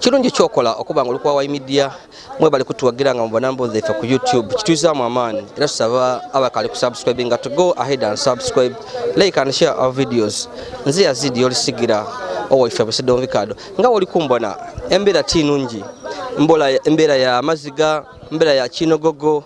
kirungi kyokola okuba nga olikuwa wa media mwebale kutuwagira nga mubona mbozi ife ku youtube kitwizamu amaani era tusaba abakali kusubscribe nga to go ahead and subscribe like and share our videos nze yazidi yolisigira owaife busidonvikado nga woli kumbona embeera ti nungi mbola embeera ya maziga embeera ya kinogogo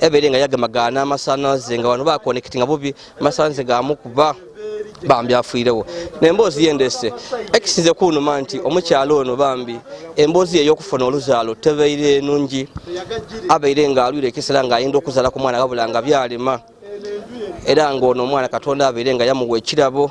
ebere nga yagema ga n'amasanalaze nga wano bakonekiti nga bubi amasanalaze gamu kuba bambi afuirewo nemboozi yendese ekisinze kunuma nti omukyalo ono bambi emboozi ye eyokufuna oluzaalo tebeire nungi abeire nga alwire ekisera nga ayinda okuzala ku mwana wabula nga byalema era ngaono omwana katonda abeire nga yamuwa ekirabo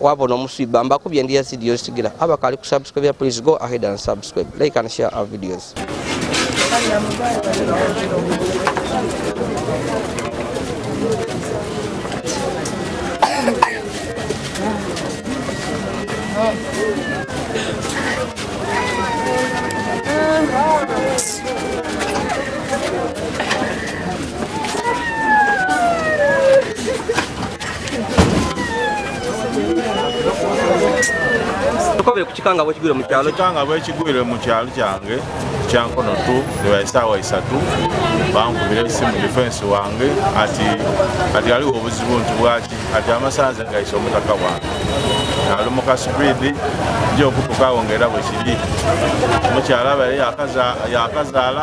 wabona omuswiba mbakubye ndi yazidi yosigira abakali ku subscribe please go ahead and subscribe like and share our videos tukobere ku kikanga bwekigwire mu kyalo kikanga bwekigwire mu kyalo kyange kyankono tu ewa esaawa isatu bankubira esimu defensi wange ati ati aliwo obuzibu nti bwaki ati amasanze gaisa omutaka wange ali mu kasipidi nja okutukawo ngaera bwekiri omukyala abaye yakazaala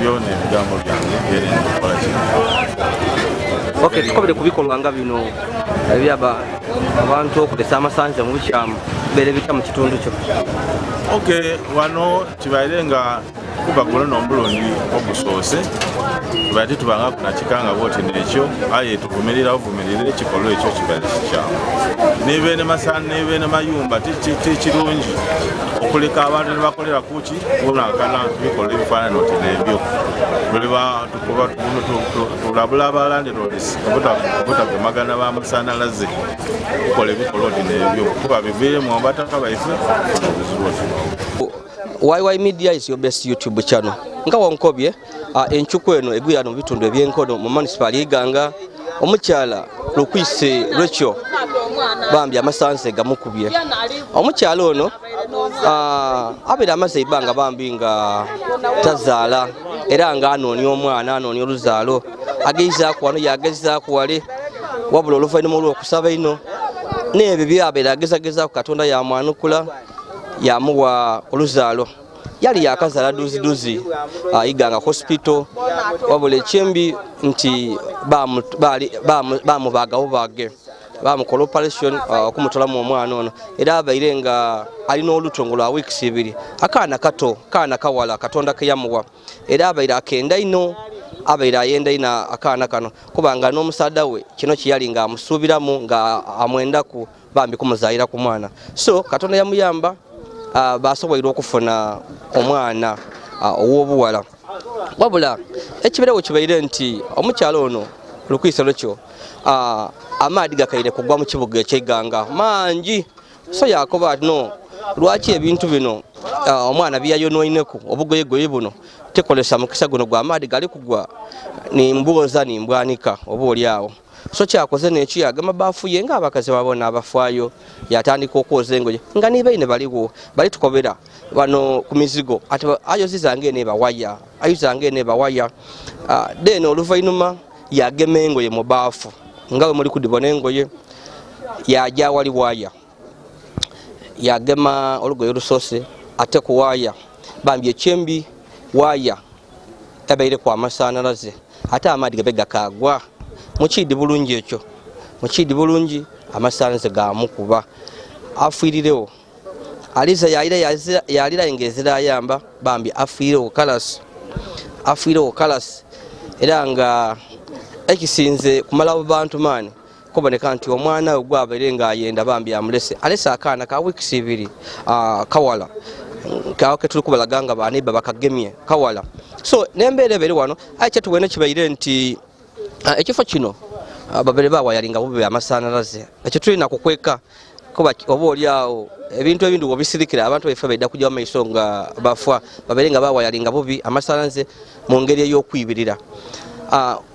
byona ebigambo byange byeri nkola kino ok tukobere ku bikolwa nga bino ebyaba abantu okulesa amasanza mu bukyamu bere bitya mu kitundu kyo ok wano kibaire nga kuba guno nomulundi ogusoose tubaire titubanga kunakikanga bwoti nekyo aye tuvumirira ovumirire ekikolwa ekyo kibaire kikyamu nebene masana nebene mayumba tikirungi okuleka abantu nebakolera kuki kunankana bikola ebifaanana oti nebyo tuliba tukuba tulabula abalandirods obutagemagana bamasanyalaze tukola ebikola oti nebyo kuba biviremu abataka baife obuzibu oti YY Media is your best YouTube channel nga wankobye Encuku eno egwira mu bitundu eby'enkono mu munisipaali y'Iganga omukyala Lukwise Rachel bambi amasanze gamukubye omukyala ono abeera amaze ebbanga bambi nga tazaala era nga anoonya omwana anoonya oluzaalo ageizaaku wano yagezaaku wale wabula oluvannyuma olw'okusaba ino n'ebyo byabeera agezagezaku katonda yamwanukula yamuwa oluzaalo yali yakazala duziduzi ayiga nga hospital wabula ekyembi nti bamubagawo bage bamukola operation uh, okumutolamu omwana ono era abaire nga alina oluto nga lwa weeks ibiri akaana kato kaana kawala katonda keyamuwa era abaire akenda ino abaire ayenda ino akaana kano kubanga n'omusada we kino kyeyali nga amusuubiramu nga amwendaku bambi kumuzaalira ku mwana so katonda yamuyamba uh, basobola okufuna omwana uh, ow'obuwala wabula ekibeerewo kibeire nti omukyala ono lukwiso lukyo uh, amaadi gakaire kugwa mu kibuga ekyeganga mangi so yakoba ati no lwaki ebintu bino uh, omwana byeyayonoineku obugoyegoye buno tekolesa mukisa guno gwa maadi gali kugwa nimbwoza nimbwanika oba oli awo so kyakoze neki yagamba bafuye nga abakazi babona abafwayo yatandika okwoza engoye nga nibaine baliwo bali tukobera bano ku mizigo ati ayoziza nga ene bawaya ayoziza nga ene bawaya ah, then oluvainuma yagema engoye mu baafu nga we muli kudibona engoye yaja wali waya yagema olugoye olusoose ate ku waaya bambi ekyembi waaya ebeire ku amasanalaze ate amaadi gabe gakaagwa mukiidi bulungi ekyo mukiidi bulungi amasanalaze gamukuba afiirirewo aliza yalira yalira engezira ayamba bambi afiirirewo kalasi afiirirewo kalasi era nga ekisinze kumalawo bantu maani kuboneka nti omwana we gwabere ng'ayenda bambi amulese alese akaana ka weeks ibiri ah, kawala kawo ketuli kubalaga nga baneiba bakagemye kawala so nembeera ebere wano aye kyetubwene kibaire nti ah, ekifo kino ah, babere bawayali nga bube amasanalaze ekyo tulina kukweka kuba oba oli awo ebintu ebindi wobisirikira abantu baife baida kujja mumaiso nga bafa babere nga bawayali nga bubi amasanalaze mu ngeri ey'okwibirira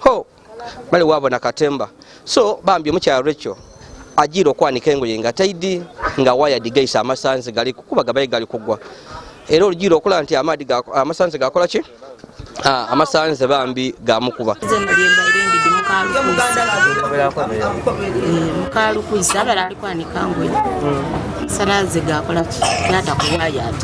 ho bali wabo na katemba so bambi omukyala recho ajiira okwanika engoye nga taidi nga waya digaisa amasanzi gali kukuba gabaye gali kugwa era olujiira okulaba nti amaadi amasanzi gakola ki ah, amasanzi bambi gamukuba mukalukuzi abala alikwanika ngoye hmm. sanazi gakola ki yata kuwaya ati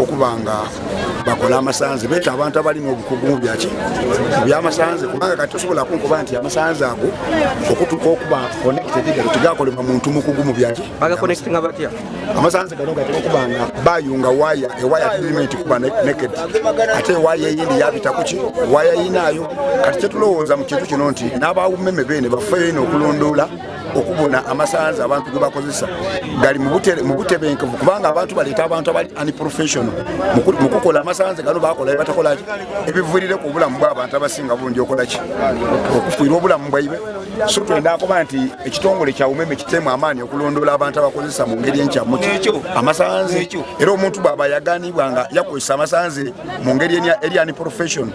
okuba nga bakola amasanze beta abantu abali n'obukugu mu byaki byamasanze kubanga kati tosobola kunkuba nti amasanze ago okutuka okuba connectedgalo tigakolebwa muntu mukugu mu byaki amasanze gano gati okuba nga bayunga waya ewaya tulirima nti kuba naked ate ewaya eyindi yabita kuki waya yinaayo kati kyetulowooza mu kintu kino nti n'abawumeme beene bafeyo ino okulondoola okubuna amasanza abantu gebakozesa gali mubutebenkevu kubanga abantu baleeta abantu abali unprofessional mukukola amasanze gano bakola batakolaki ebivulire ku obulamu bwabantu abasinga bungi okolaki okufuira obulamu bwaibe so twenda akuba nti ekitongole kya umeme kitemu amaanyi okulondoola abantu abakozesa mu ngeri enkyamu amasanze era omuntu bwaba yaganibwa nga yakozesa amasanze mu ngeri eri unprofessional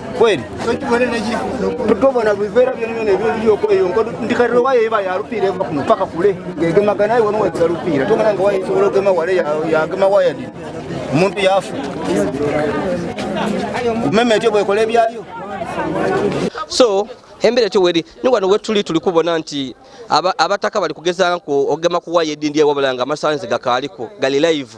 kweli tobona bivera byonona ebyoliyokola eyo nkodo ndikatira wayo eba yalupiira eva kuno paka kule ngegemaga naye wano weza lupiira tongana nga wayo esobola ogema wale yagema waya dini omuntu yafa kumeme etyo bwekola ebyayo so embera etyo weri ni wano wetuli tuli kubona nti abataka bali kugezanku ogema kuwaya edindi ewabula nga amasanzi gakaaliko gali live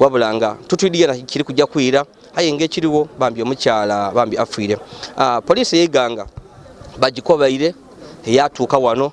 wabula nga tutuidigana kiri kujja kwira aye ngaekiriwo bambi omukyala bambi afiire ah, poliisi eyeganga bagikobaire eyatuuka wano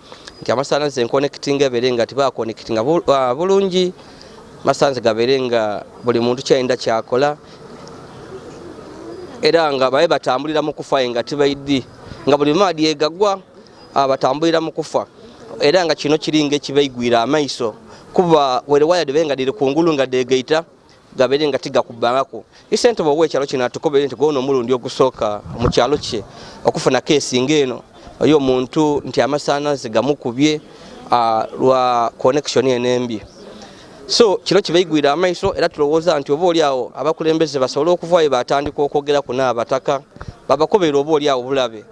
nti amasanalaze enkonekitinga ebeere nga tibakonekitinga ah, bulungi amasanalaze gabeere nga buli muntu kyayinda kyakola era nga babe batambulira mu kufa nga tibaidi nga buli maadi egagwa ah, batambulira mu kufa era nga kino kiringa ekibaigwira amaiso kuba were waya debe nga diri kungulu nga degaita gabere nga tigakubbangako isente bowa ekyalo kino atukobere nti gwono omulundi ogusooka mu kyalo kye okufuna keesi ng'eno oyo omuntu nti amasaanazi gamukubye uh, lwa connection eno embi so kino kibaigwire amaiso era tulowooza nti oba oliawo abakulembeze basobole okuvaayo batandika okwogera ku naabataka babakobere oba oliawo bulabe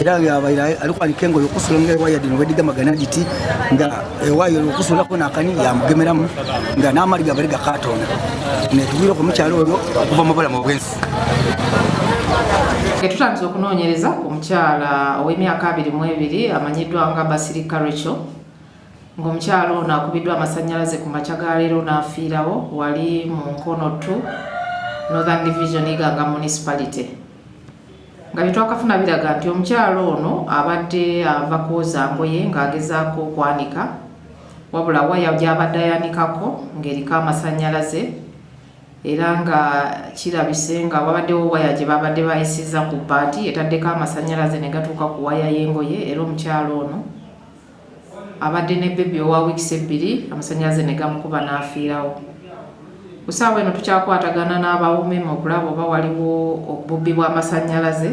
era abaira alikuwa likengo yokusula nga ewaya dino wediga magana giti nga ewayo yokusula kona akani yamugemeramu nga n'amali gabali gakatonda netubwira ku mukyalo oyo okuva mu bulamu bwensi Tetutandise okunoonyereza ku mukyala ow'emyaka abiri mu ebiri amanyiddwa nga Basirika Rachel ng'omukyala ono akubiddwa amasannyalaze ku makya ga leero n'afiirawo wali mu Nkono 2 Northern Division Iganga Municipality. nga byetwakafuna biraga nti omukyalo ono abadde ava kwoza ngoye ng'agezaako okwanika wabula waya gy'abadde ayanikako ng'eriko amasanyalaze era nga kirabise nga wabaddewo waya gye babadde bayisiza ku bbaati etaddeko amasanyalaze ne gatuuka ku waya y'engoye era omukyalo ono abadde ne bbebi owa wiikisi ebbiri amasannyalaze ne gamukuba n'afiirawo. Ku ssaawa eno tukyakwatagana n'aba UMEME okulaba oba waliwo obubbi bw'amasannyalaze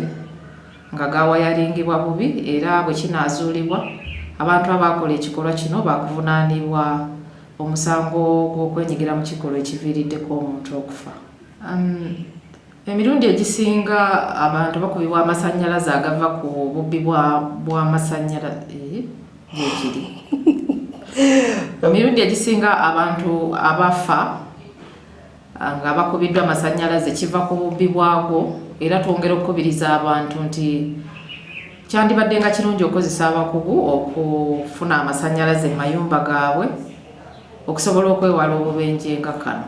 nga gaawayaringibwa bubi era bwe kinaazuulibwa abantu abaakola ekikolwa kino baakuvunaanibwa omusango gw'okwenyigira mu kikolwa ekiviiriddeko omuntu okufa. Um, Emirundi egisinga abantu bakubibwa amasannyalaze agava ku bubbi bw'amasannyalaze eh, gyekiri emirundi egisinga abantu abafa ah, nga bakubiddwa amasannyalaze kiva ku bubbi bwago era twongera okukubiriza abantu nti kyandibadde nga kirungi okukozesa abakugu okufuna amasannyalaze mu mayumba gaabwe okusobola okwewala obubenje nga kano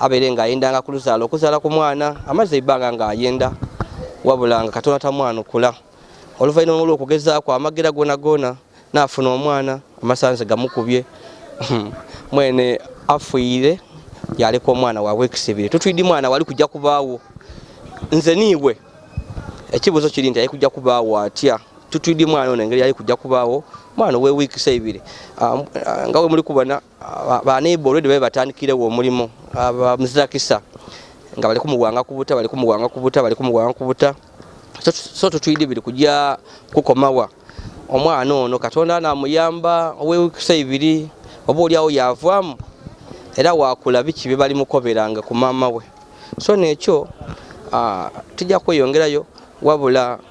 abeere ng'ayendanga ku luzaala okuzaala ku mwana amazzi ebbanga ng'ayenda wabula nga katonda tamwanukula oluvannyuma olw'okugezaako amagira gona gona n'afuna omwana amasanze gamukubye mwene afuire yaleka omwana wa weeks ebiri tutwidi mwana wali kujja kubaawo nze niiwe ekibuuzo kiri nti yali kujja kubaawo atya tutwidi mwana ono engeri yali kujja kubaawo mwana owe weeks ebiri ah, ah, nga we muli kubona baneiba olwedi babe batandikirewo omulimu muzirakisa nga bali kumuwanga kubuta bali kumuwanga kubuta bali kumuwanga kubuta so tutwidi biri kujya kukomawa omwana ono katonda namuyamba owewikisa ibiri oba olyawo yavamu era wakula biki byebali mukoberanga ku maama we so nekyo tujja kweyongerayo wabula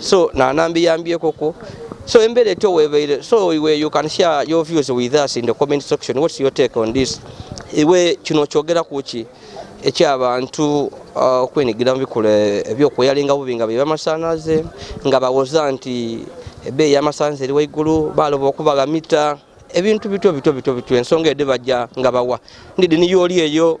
so nanambiyambyekoko so embera etyo webeire so we you can share your views with us in the comment section what's your take on this iwe kino kyogera kuki ekyabantu uh, okwenigira uh, mubikola ebyokuyalinga bubi nga bebamasanaze nga bawoza nti ebeeyi yamasanze eri waigulu baloba okubagamita ebintu bityo bityo bityo bityo ensonga ede bajja nga bawa ndidi niyo oli eyo